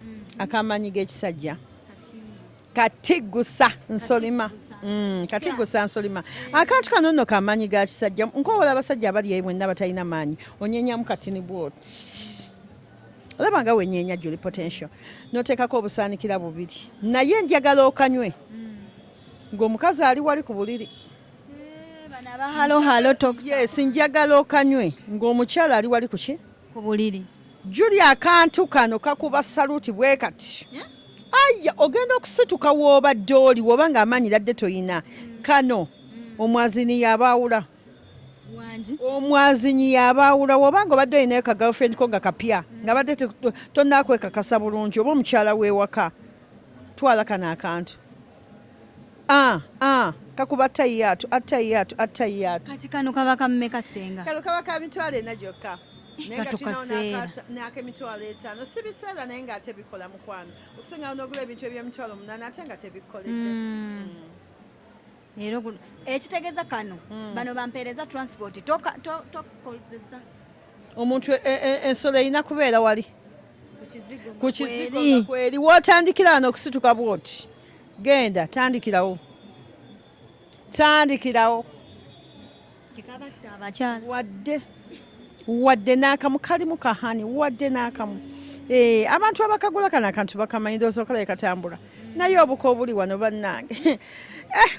mm. akamanyi gekisajja kati gusa nsolima mm, kati gusa nsolima eh. akantu kano nno kamanyi ga kisajja nkowola abasajja abali eyo mwenna batalina maanyi onyenyamu katini bwoti olaba nga wenyenya juli potential noteekako obusaanikira bubiri naye njagala okanywe mm. ng'omukazi ali wali ku buliri eh, yes njagala okanywe ng'omukyala ali wali kuki ku buliri. Julia akantu kano kakuba saluti bwe kati yeah? Aya ogenda okusituka w'obadde oli woba ng'amaanyi ladde toyina mm. kano mm. omwazinyi yabaawula omwazinyi yabaawula woba nga obadde olinayo ka girlfriend ko nga kapya mm. nga badde tonakwekakasa bulungi oba omukyala w'ewaka twala kano akantu Ah, ah, kakuba attayyaatu attayyaatu attayyaatu kati kano kaba ka mmeka ssenga kano kaba ka mitwalo ena gyokka nayeatukaseeraak'emitwalo etaano si biseera naye ng'ate bikola mukwano okusingawo n'ogula ebintu eby'emitwalo omunaana ate nga tebikoledde hmm. Hmm. ekitegeeza kano hmm. bano bampeereza transport tokozesa omuntu e, e, e, ensolo erina kubeera wali ku kizigo kweri wotandikira wano okusituka bwoti Genda tandikirawo, tandikirawo wadde wadde n'akamu kalimu kahani wadde n'akamu eh, abantu abakagula kano akantu bakamanyi ndowooza okalabe katambula naye obuka obuli wano bannange eh,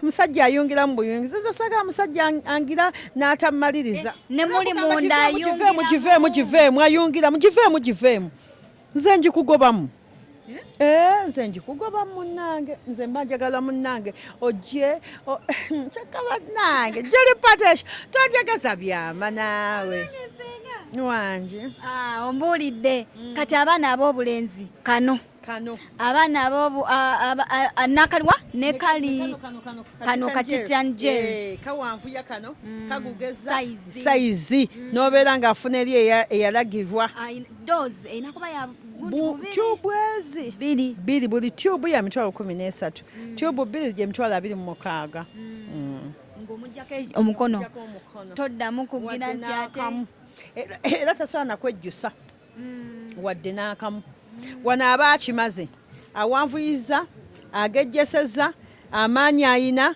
musajja ayungira mu buyungiza nze saga musajja angira n'atamaliriza eh, nemuli munda ayungira mugiveemu giveemu ayungira mugiveemu giveemu nze njikugobamu eh? Eh, nze njikugoba munange nze mba njagala munange ojje kyokka banange juli patesh tonjageza byama naawe wangi ah, ombuulidde mm. kati abaana ab'obulenzi kano kano abaana abobu nakalwa ne kali kano katitanje eh, kawanvuya kano mm. kagugeza saizi mm. nobeera ng'afuna eri eyalagirwa doozi erina kuba ya tyubu ezi bbiri buli tyubu ya mitwalo kumi n'esatu mm. tyubu bbiri gye mitwalo abiri mu mukaaga mm. Mm. ng'omujjako e- omukono toddamu kugira nti ate era tasobola nakwejjusa wadde n'akamu wano aba akimaze awanvuyiza agejjeseza amaanyi ayina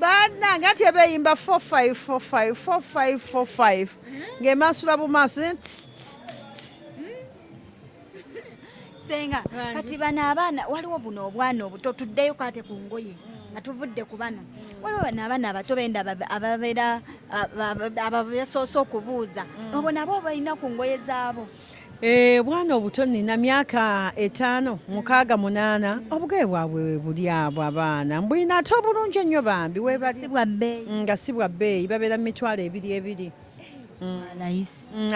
banange anti ebeyimba 454545 ng'emansula bumaaso eh, senga kati bano abaana waliwo buno obwana obuto tuddeyo kate ku ngoye nga tuvudde ku bano waliwo bano abaana abato benda ababeera abasoose okubuuza mm. obo nabo balina ku ngoye zaabo Eh, bwana obuto nina myaka etaano mukaaga munaana obugaye bwabwe webuli abo abaana mbulina ate obulungi ennyo bambi webali nga si bwa bbeeyi babeera mu mitwalo ebiri ebiri mm. mm,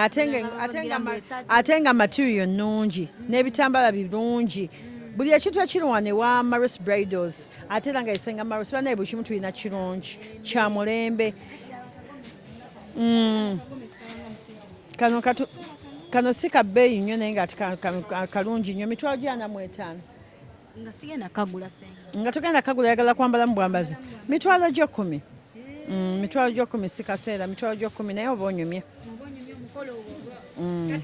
ate nga material nnungi n'ebitambala birungi buli ekintu ekirwana ewa maris bridals ate era nga esenga maris banaye buli kimu tulina kirungi kya mulembe mm. kano katu kano si ka bbeeyi nnyo naye nga kalungi nnyo mitwalo gyana mu etaano nga sigenda kagula nga tugenda kagula yagala kwambala mu bwambazi mitwalo gy'ekkumi mm, mitwalo gy'ekkumi si kaseera mitwalo gy'ekkumi naye oba onyumye mm.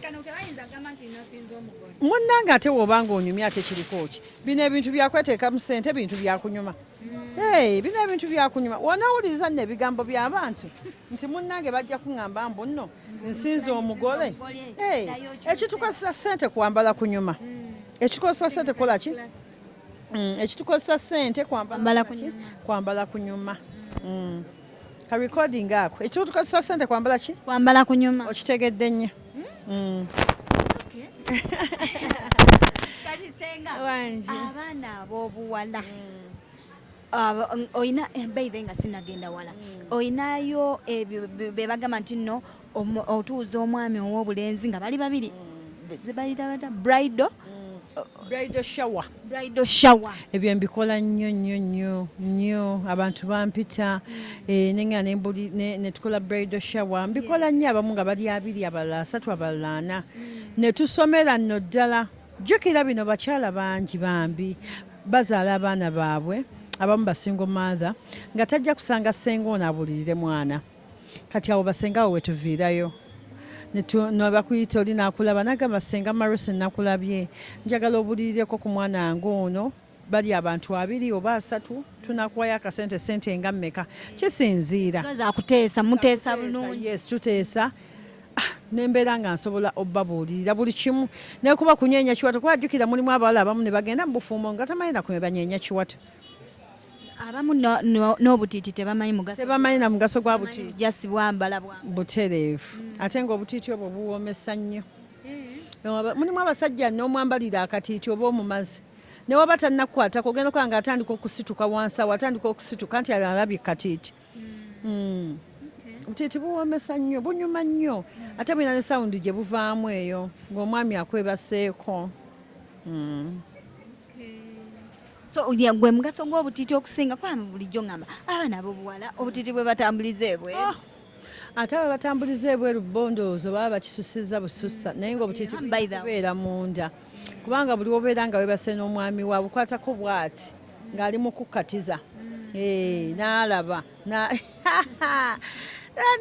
munnange ate woba nga onyumye ate kiriko ki bino ebintu byakweteekamu sente bintu byakunyuma Hey, bino ebintu byakunyuma wonawuliriza nno ebigambo by'abantu nti munnange bajja kuŋŋamba mbu nno nsinza omugole hey, ekitukozesa ssente kwambala kunyuma hmm. ekitukozesa ssente kukola ki hmm, ekitukozesa ssente kwambala kunyuma hmm. ka recording ako ekyo tukozesa sente kwambala ki kwambala kunyuma okitegedde nnyo hmm? kati senga abaana ab'obuwala hmm. olina eh, baithe nga sinagenda wala hmm. olinayo ebyo eh, bebagamba nti nno otuuza omwami ow'obulenzi nga bali babiri zebayita bata brido brido shower brido shower ebyo mbikola nnyo nnyo nnyo nnyo abantu bampita eh, nenga nembuli netukola brido shower mbikola nnyo abamu nga bali abiri abalala asatu abalala ana mm. netusomera nno ddala jjukira bino bakyala bangi bambi bazaala abaana baabwe abamu basingo maatha nga tajja kusanga senga ono abulirire mwana kati awo basenga awo wetuviirayo nebakuyita oli nakulaba nagamba senga marusi nakulabye njagala obulirireko ku mwana wange ono bali abantu abiri oba asatu tunakuwayo akasente sente nga mmeka kisinziira tuteesa ah, nembeera nga nsobola obabuulirira buli kimu nekuba kunyenya kiwato kuba ajjukira mulimu abawala abamu ne bagenda mu bufumbo nga tamanyi nakume banyenya kiwato abamu n'obutiiti tebamanyi mugaso tebamanyi na mugaso gwa butiiti jasi bwambala bwa butereevu hmm. ate ng'obutiiti obwo buwoomesa nnyo eh. mulimu abasajja n'omwambalira akatiiti oba omumazi ne waba tannakukwatako ogenda okulaba nga atandika okusituka wansi awo atandika okusituka nti alabye katiiti mm. titi buwoomesa nnyo bunyuma nnyo ate bulina ne sawundi gye buvaamu eyo ng'omwami akwebaseeko mm. so gwe mugaso gw'obutiti okusinga kwami bulijjo ngamba abaana abobuwala obutiti bwe batambuliza ebwe ah, ate aba batambuliza ebweru bondoozo baba bakisusiza bususa mm. naye ngaobutiti beera munda kubanga buli wobeera nga webase n'omwami wa bukwatako bwati ng'ali mu kukkatiza mm. eh, n'alaba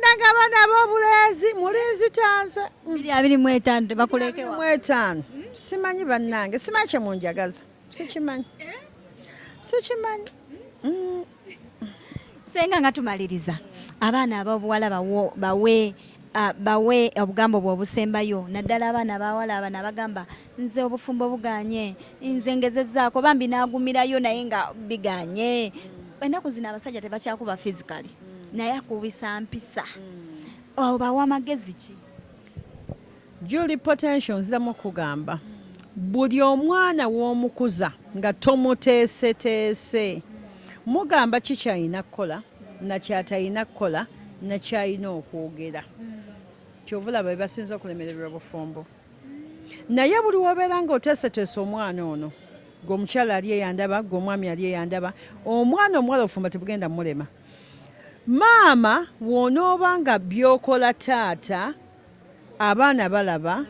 nagaba nabo obulenzi mulinzi tanze mwetaano simanyi bannange simanyi kye munjagaza sikimanyi eh? sikimanyi mm. senga nga tumaliriza abaana ababuwala bawe ah, bawe obugambo bwobusembayo naddala abaana abawala abana abagamba nze obufumbo buganye nze ngezezaako bambi nagumirayo naye nga biganye ennaku zino abasajja tebakyakuba physically naye akubisa mpisa obawa amagezi ki juli potential nziramu okugamba buli omwana w'omukuza nga tomuteeseteese mugamba ki kyalina kukola nakyatalina kukola nakyalina okwogera kyovulaba bebasinza okulemererwa obufumbo Naye buli wobeera nga oteeseteese omwana ono gwe omukyala ali eyandaba gwe omwami ali eyandaba omwana omuwala ofumba tebugenda mulema maama wonooba nga byokola taata abaana balaba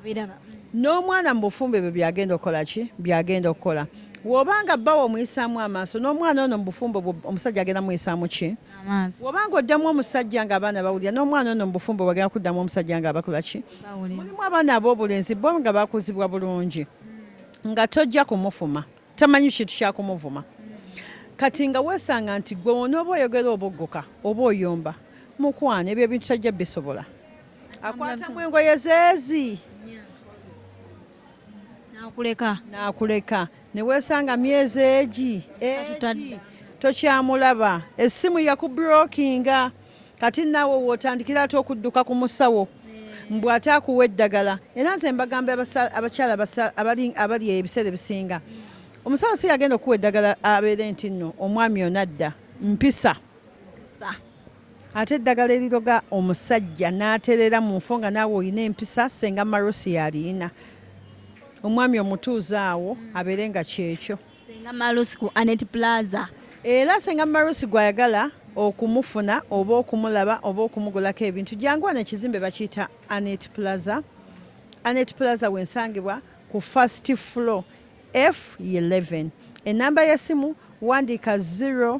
n'omwana mu bufumbo ebyo byagenda okukola ki byagenda okukola wobanga bbawo omuyisaamu amaaso n'omwana ono mu bufumbo omusajja agenda muyisaamu ki amaaso woba nga oddamu omusajja nga abaana bawulira n'omwana ono mubufumbo bagala kuddamu omusajja nga abakola ki mulimu abaana ab'obulenzi bo nga bakuzibwa bulungi hmm. nga tojja kumufuma tamanyi kintu kyakumuvuma hmm. kati nga weesanga nti gwe onooba oyogera obugguka oba oyomba mukwano ebyo ebintu tajja bisobola akwatamu engoye zeezi nakuleka nakuleka newesanga myezi egi egi tokyamulaba essimu yakuburokinga kati naawe wotandikira ate okudduka ku musawo mbu ate akuwa eddagala era nze mbagamba abakyala abali ebiseera ebisinga omusawo si yagenda okuwa eddagala abeere nti nno omwami onadda mpisa Ate eddagala eriroga omusajja n'aterera mu nfo nga naawe olina empisa senga Marusi y'aliyina omwami omutuuze awo abeere nga kyekyo. Senga Marusi ku Anet Plaza. Era senga Marusi gw'ayagala okumufuna oba okumulaba oba okumugulako ebintu jangu wano ekizimbe bakiyita Anet Plaza. Anet Plaza w'ensangibwa ku first floor F11. Ennamba y'essimu wandiika 0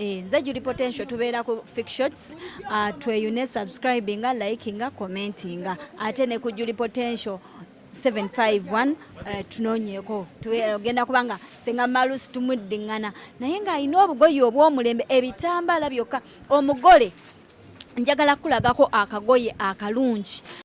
Eh, nze juli potential tubeera ku fictions uh, ah, tweyune subscribinga likinga commentinga ate ne ku juli potential 751 eh, tunonyeko tugenda kubanga senga malusi tumuddiŋŋana naye ng'alina obugoye obw'omulembe ebitambala byokka omugole njagala kulagako akagoye akalungi